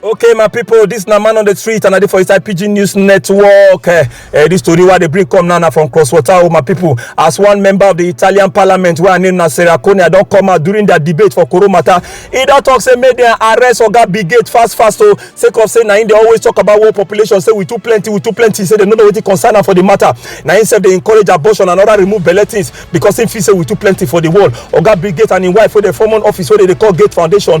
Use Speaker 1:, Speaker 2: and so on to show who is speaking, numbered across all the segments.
Speaker 1: okay my pipo dis na man on di street and i dey for inside pidgin news network eh, eh, dis tori wey dey bring come now na from cross water o oh, my pipo as one member of di italian parliament wey her name na sarah konia don come out during dia debate for koro matter e don tok say make dem arrest oga brigade fast fast o oh, sake of say na im dey always tok about world population say we too plenty we too plenty say dem no know wetin concern am for di matter na im sef dey encourage abortion and oda remove belle things because im feel say we too plenty for di world oga brigade and im wife wey dey form one office wey dem dey call gate foundation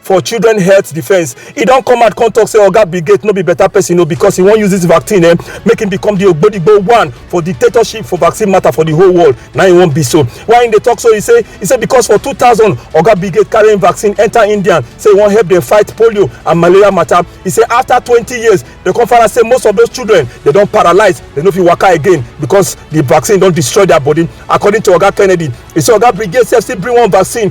Speaker 1: for children health defence e don come out come talk say oga oh, brigade no be better person o oh, because he wan use this vaccine eh, make him become the ogbodigbo one for dictatorship for vaccine matter for the whole world na he wan be so why he dey talk so he say he say because for two thousand oga oh, brigade carry him vaccine enter india say he wan help dem fight polio and malaria matter he say after twenty years dem come find out say most of those children dey don paralyse dem no fit waka again because the vaccine don destroy their body according to oga kennedy he say oga brigade sef still bring one vaccine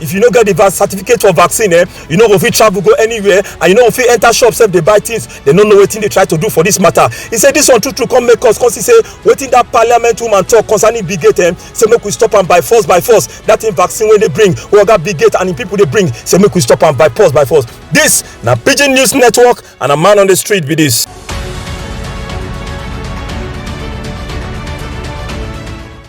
Speaker 1: if you no get the certificate for vaccine eh you no go fit travel go anywhere and you no go fit enter shop sef dey buy things dem no know wetin dey try to do for this matter He say this one true true come make us come see say wetin that parliament woman talk concerning big gate eh say make we stop am by force by force that thing vaccine wey dey bring wey oga big gate and im people dey bring say make we stop am by force by force This na pidgin news network and a man on the street be this.